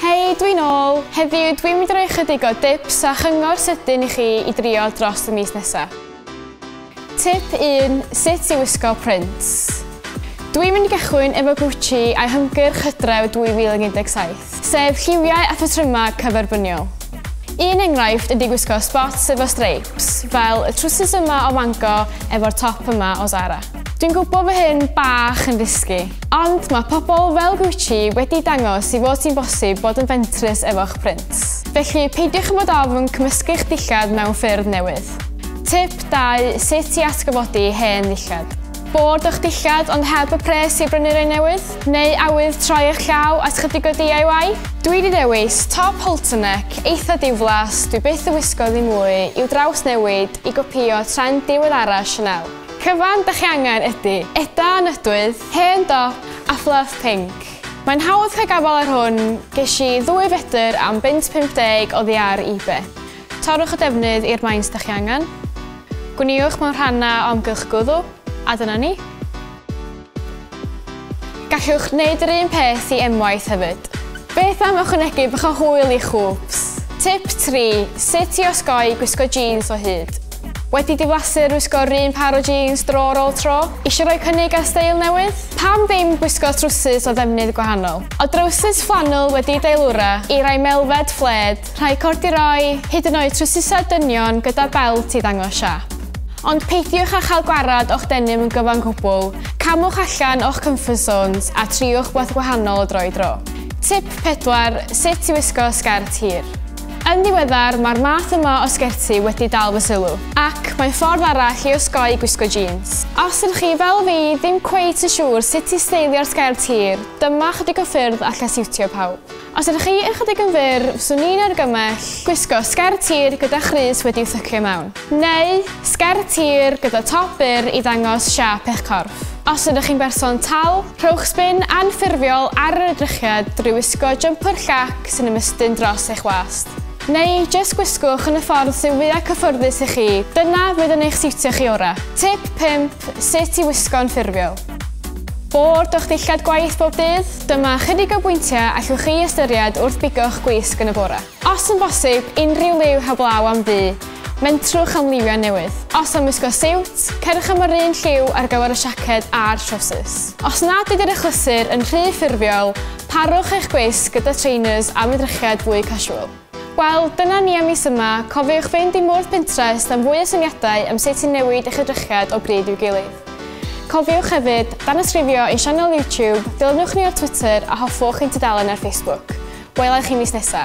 Hei, dwi'n ôl. Heddiw, dwi'n mynd i roi chydig o dips a chyngor sydyn i chi i drio dros y mis nesaf. Tip 1, sut i wisgo print. Dwi'n mynd i gychwyn efo Gucci a'i hymgyrch hydref 2017. sef lliwiau a phatrymau cyferbyniol. Un enghraifft ydy gwisgo spots efo streipes, fel y trwsus yma o Mango efo'r top yma o Zara. Dwi'n gwybod fy hyn bach yn risgi, ond mae pobl fel Gucci wedi dangos i fod sy'n bosib bod yn fentrus efo'ch prints. Felly peidiwch â bod ofn cymysgu'ch dillad mewn ffyrdd newydd. Tip 2 sut i atgyfodi hen ddillad. Bod o'ch dillad ond heb y pres i brynu'r un newydd? Neu awydd troi eich llaw at chydig o DIY? Dwi 'di dewis top halter neck eitha diflas dwi byth yn wisgo ddim mwy i'w drawsnewid i gopïo trend diweddara Chanel. Cyfan 'da chi angen ydi eda nydwydd, hen dop a fluff pinc. Mae'n hawdd cael gafal ar hwn, gesh i ddwy fedr am bunt 50 oddi ar ebay. Torrwch y defnydd i'r maint da chi angen. Gwniwch mewn rhannau o amgylch gwddw, a dyna ni. Gallwch wneud yr un peth i emwaith hefyd. Beth am ychwanegu bach o hwyl i'ch hwps? Tip 3, Sut i osgoi gwisgo jîns o hyd. Wedi diflasu'r wisgo'r un pâr o jîns dro ar ôl tro? Eisiau rhoi cynnig ar steil newydd? Pam ddim gwisgo trwsus o ddefnydd gwahanol? O drowsus fflanwl wedi'i deilwra i rai melfed, fflêd, Rhaid corduroi hyd yn oed trwsysau dynion gyda belt i ddangos siap. Ond peidiwch â chael gwared o'ch denim yn gyfan gwbl, camwch allan o'ch comfort zones a triwch wbath gwahanol o dro i dro. Tip 4, Sut i wisgo sgert hir. Yn ddiweddar, mae'r math yma o sgerti wedi dal fy sylw, ac mae'n ffordd arall i osgoi gwisgo jîns. Os ydych chi, fel fi, ddim cweit yn siŵr sut i steilio'r sgert hir, dyma ychydig o ffyrdd allai siwtio pawb. Os ydych chi ychydig yn fyr, fyswn i'n argymell gwisgo sgert tir gyda chrys wedi'w sycio mewn, neu sgert tir gyda top byr i ddangos siâp eich corff. Os ydych chi'n berson tal, rhowch sbin anffurfiol ar yr edrychiad drwy wisgo jympyr llac sy'n ymestyn dros eich wast. Neu jyst gwisgwch yn y ffordd sy'n fwyaf cyffyrddus i chi, dyna fydd yn eich siwtio chi orau. Tip 5, Sut i wisgo'n ffurfiol. Bord o'ch dillad gwaith bob dydd? Dyma ychydig o bwyntiau allwch chi ystyried wrth bigo'ch gwisg yn y bore. Os yn bosib, unrhyw liw heblaw am ddu, mentrwch am liwiau newydd. Os am wisgo siwt, cerwch am yr un lliw ar gyfer y siaced a'r trowsus. Os nad ydy'r achlysur yn rhy ffurfiol, parwch eich gwisg gyda trainers am edrychiad fwy casual. Wel, dyna ni am mis yma. Cofiwch fynd i mwrdd Pinterest am fwy o syniadau am sut i newid eich edrychiad o bryd i'w gilydd. Cofiwch hefyd, danysgrifio i'n sianel YouTube, dilynwch ni ar Twitter a hoffwch ein tudalen ar Facebook. Wela i chi mis nesa!